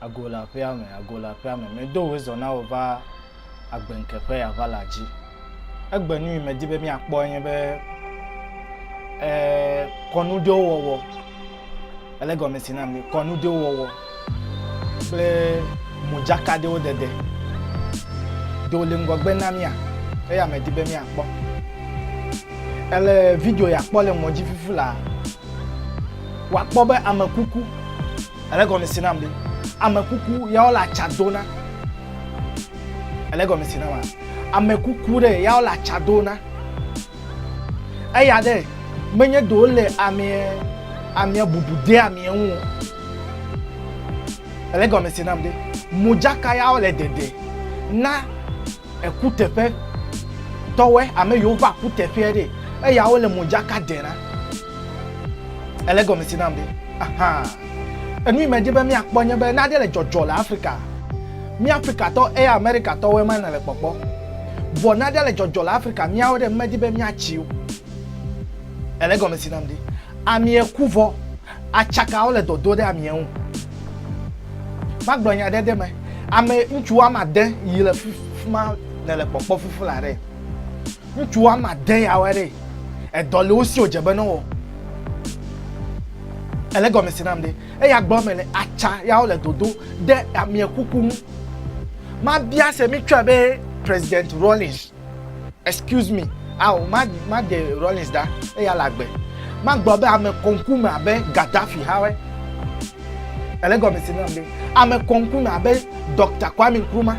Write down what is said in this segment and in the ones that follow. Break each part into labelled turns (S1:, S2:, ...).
S1: Ago le aƒea me, ago le aƒea me. Medo wò zɔ na wò va agbeŋke ƒe aʋala dzi. Egbe nu yi medi be míakpɔ nye be e, kɔnu ɖewo wɔwɔ. Ele gɔme si nam kɔnu ɖewo wɔwɔ kple modzaka ɖewo dede. Ɖewo le ŋgɔgbe na mía eya medi be míakpɔ. Ele video ya kpɔ le mɔdzifufu la, wòakpɔ be ame kuku Ele gɔme si nam be ame kuku ya wole atsa do na. Ele gɔme si nam ame kuku ɖe ya wole atsa do na. Eya ɖe menye do le ame ame bubu de ame ŋu. Ele gɔme si nam be modzaka ya wole dede na ekuteƒe tɔwɛ ame yiwo va kuteƒea ɖe eya wole modzaka de na. Ele gɔme si nam be, ahan, enu yi medi be míakpɔ nye be nane le dzɔdzɔ le Afrika. Mí Afrikatɔ eye Amerikatɔwoe ma nèle kpɔkpɔ. Vɔ nane le dzɔdzɔ le Afrika míawo ɖe medi be míatsi o. Ele gɔme si nam be, amie ku vɔ, atsakawo le dɔdo ɖe amie ŋu. Magblɔ nya ɖe ɖe me, ame ŋutsu woame ade yi le fi ma nèle kpɔkpɔ fufu la ɖe. Ŋutsu woame ade ya wɔe ɖe. Edɔ le wo si wòdze be ne wowɔ. Ele gɔme se nam ɖe. Eya gblɔ me le atsa ya wole dodo ɖe amia kuku ŋu. Mabia se mi tsɔe be President Rawlings. Excuse me, ao ma ma de Rawlings da eya le agbe. Magblɔ be ame kɔnku me abe Gaddafi ha wɔe. Ele gɔme se nam ɖe. Ame kɔnku me abe Dɔkta Kwame Nkrumah.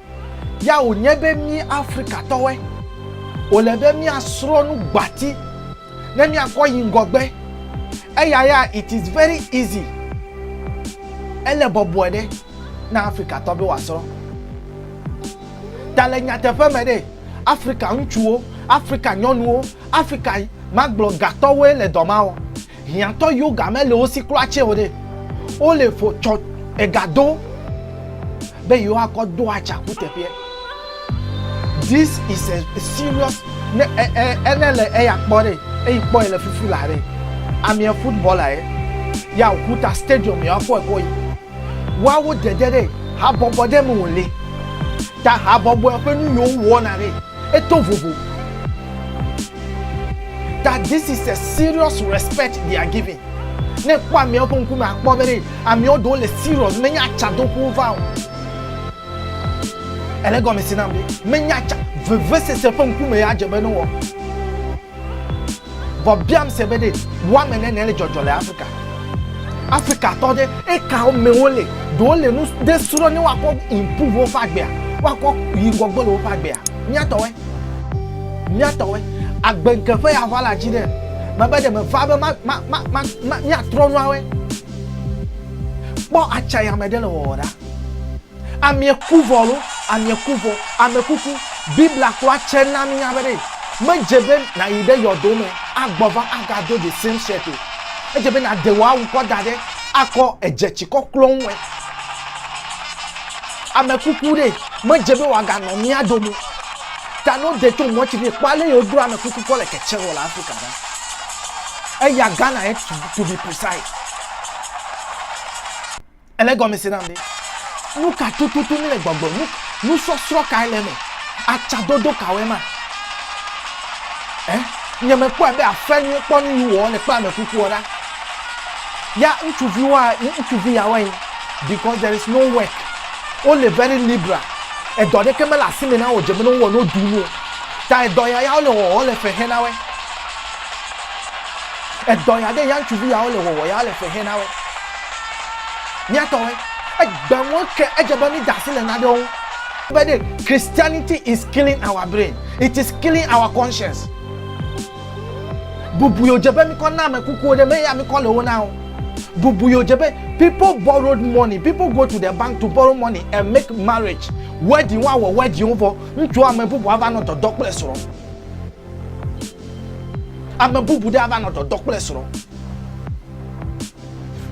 S1: Ya wònye be mí Afrikatɔwoe wòle be míasrɔ̃ nu gbati ne míakɔ yi ŋgɔgbe. Eya ya it is very easy, ele bɔbɔe ɖe na Afrikatɔ be wòasrɔ̃. Ta le nyateƒe me ɖe, Afrika ŋutsuwo, Afrika nyɔnuwo, Afrika magblɔ gatɔwoe le dɔ ma wɔm. Hiãtɔ yiwo ga mele wo si kura tsɛ o ɖe, wole ƒo tsɔ ega do be yewoakɔ do atsa kuteƒeɛ. This is a serious ne e e ene le eya kpɔ ɖe eyi kpɔe le fufu la ɖe. Amiɛ footballer ye. Ya Oguta stadium ya kɔ ekɔ yi. Woawo dede ɖe habɔbɔ ɖe me wole. Ta habɔbɔɛ ƒe nu yiwo wowɔna ɖe. Eto vovo. That this is a serious respect they are giving. Ne kpɔ ameawo ƒe ŋkume akpɔ be ɖe ameawo ɖewo le serious menye atsadoƒo va o. Ele gɔmesi nam ɖe menye atsa vevesese ƒe ŋkume ya dze be ne wɔ. Vɔ biam se be ɖe woame nene le dzɔdzɔ le Afrika. Afrika tɔ ɖe eka wo me wole. Do wole nu ɖe srɔ ne wakɔ improve woƒe agbea. Wakɔ yi ŋgɔgbe le woƒe agbea. Miatɔwe. Miatɔwe. Agbe nke ƒe ya ʋala dzi ɖe. Mebe ɖe me va be ma, ma, ma, ma, ma, miatrɔ nuawe. Kpɔ atsayame ɖe le wɔwɔ ɖa. Amie ku vɔ alo amie ku vɔ. Ame kuku. Biblia kpɔa tse na mi nya be ɖe me dze be na yi ɖe yɔdo me a gbɔ va a ga do the same shirt o. Edze be na de wò awu kɔ da ɖe a kɔ edze tsi kɔ klɔ ŋu ɛ. Ame kuku ɖe me dze be wòa ga nɔ mía dome o. Ta ne wo de tso mɔ tsi ɖe kpɔ ale yi wo dro ame kuku kɔ le kɛtsɛ wɔ le Afrika ɖa. Eya Ghana ye to be precise. Ele gɔme se nam be nu ka tututu míle gbɔgblɔ, nu nusɔsrɔ̃ kae le eme, atsadodo kawoe ma. Ɛ? Nye mekpɔe be afea nyuie kpɔ nu yi wòwɔ le kpea me kukua ɖa. Ya ŋutsuvi wa ŋutsuvi ya wae because there is no work. Wole very liberal. Edɔ ɖeke mele asi me na wo dze be ne wowɔ ne woɖu nu o. Ta edɔ ya ya wole wɔwɔ le fe xe na woe. Edɔ ya ɖe ya ŋutsuvi ya wole wɔwɔ ya wole fe xe na woe. Mía tɔwoe. Egbe ŋu ke edze be mída asi le nanewo ŋu. Be ɖe, Christianity is killing our brain, it is killing our conscience. Bubu yio dze be mikɔ na ame kukuwo ɖe, me ya mikɔ le wo na o. Bubu yio dze be people borrowed money, people go to the bank to borrow money and make marriage, wedding, woawɔ wedding wo vɔ, ŋutsu ame bubu ava nɔ dɔdɔ kple srɔ̃. Ame bubu ɖe ava nɔ dɔdɔ kple srɔ̃.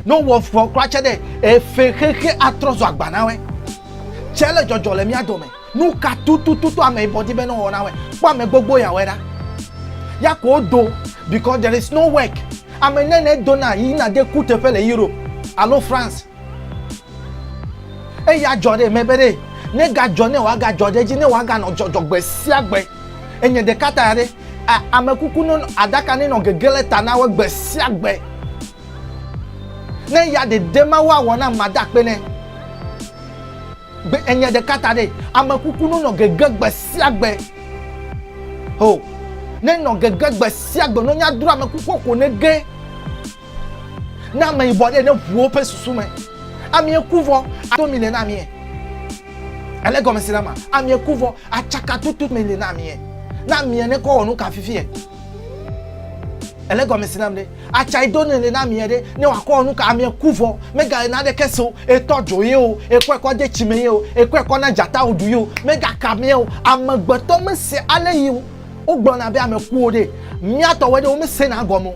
S1: No wɔ fɔ kura tse ɖe efe xexe atrɔ zɔ agba na wɛ. Tse le jɔjɔ le mía dome. Nu ka tutututu ame yi bɔdi be ne wɔ na wɛ. Kpɔ ame gbogbo ya wɛ ɖa. Ya ko do because there is no work. Ame ne ne do na yi na de ku teƒe le Europe alo France. Eya jɔ ɖe mɛ be ɖe ne ga jɔ ne wa ga jɔ ɖe dzi ne wa ga nɔ jɔjɔ gbe sia gbe. Enye ɖeka ta ya ɖe. amekuku no aɖaka ne nɔ gege le ta na wo gbe sia gbe. Ne ya dede ma wo awɔ na mada akpe ne. Gbe enye ɖeka ta ɖe amekuku no nɔ gege gbe sia gbe. Ho ne nɔ gege gbe sia gbe no nya dro amekuku ko ne ge. Na ame yibɔ ɖe ne ʋuwo ƒe susu me. Amie kuvɔ ato mi le na mie. Ele gɔme si la ma, amie ku vɔ, atsaka tutu me le na amie. Na amie ne kɔ wɔ nu ka fifi e. Ele gɔme si nam ɖe, atsa ido ne le na amie ɖe, ne wɔ akɔ wɔ nu ka amie ku vɔ, mega le na ɖe ke se o, etɔ dzo ye o, ekɔ ekɔ de tsi me ye o, ekɔ ekɔ na dzata o ɖu ye o, mega ka amie o. Amegbetɔ me se ale yi o. Wo gblɔ na be ame kuwo ɖe, mia tɔwoe ɖe, wo me se na gɔme o.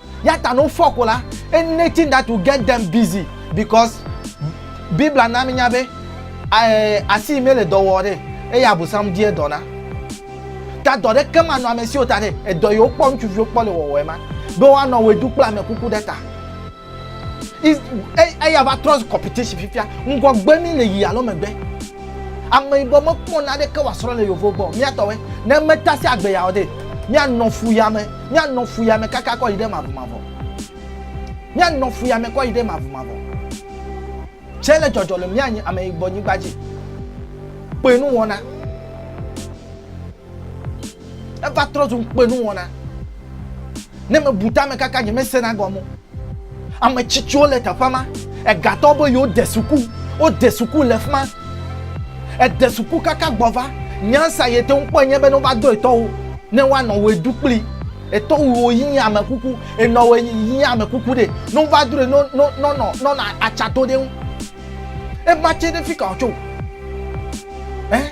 S1: Ya ta ne wofɔ ko la, anything that will get them busy because Biblia na minya be eh, asi yi mele dɔ wɔ ɖe eye abosam die dɔ na. Ta dɔ ɖeke manɔ ame siwo ta ɖe edɔ yiwo kpɔ ŋutsuviwo kpɔ le wɔwɔe ma be woanɔ wɔe ɖu kple ame kuku ɖe ta. Is- e- Eya va trɔ zu competition fifia. Ŋgɔgbe mi le yi alo megbe. Ame yibɔ mekpɔ naneke wòasrɔ̃ le yevo gbɔ o. Míatɔwoe. Ne metasi agbe ya o ɖe, míanɔ fu ya me. Míanɔ fuyame kaka kɔ yi ɖe mavɔmavɔ. Míanɔ fuyame kɔ yi ɖe mavɔmavɔ. Tsɛ le dzɔdzɔ le mía nyi ame yibɔ nyigba dzi. Kpe nu wɔna. Eva trɔ zu kpe nu wɔna. Ne me bu tame kaka nye me sena gɔme. Ame tsitsiwo le teƒe ma. Egatɔ be yewo de suku. Wo de suku le fima. Ede suku kaka gbɔ va. Nyansa ye te ŋu kpɔ enye be ne wova do etɔwo, ne woa nɔ wo edu kpli. Etɔ wu wo yi ame kuku. Enɔ wo yi ame kuku ɖe. Ne wova do ɖe, no, no, no, no, no, no, atsa to ɖe ŋu. Ema tse ɖe fika wò tso. Eh?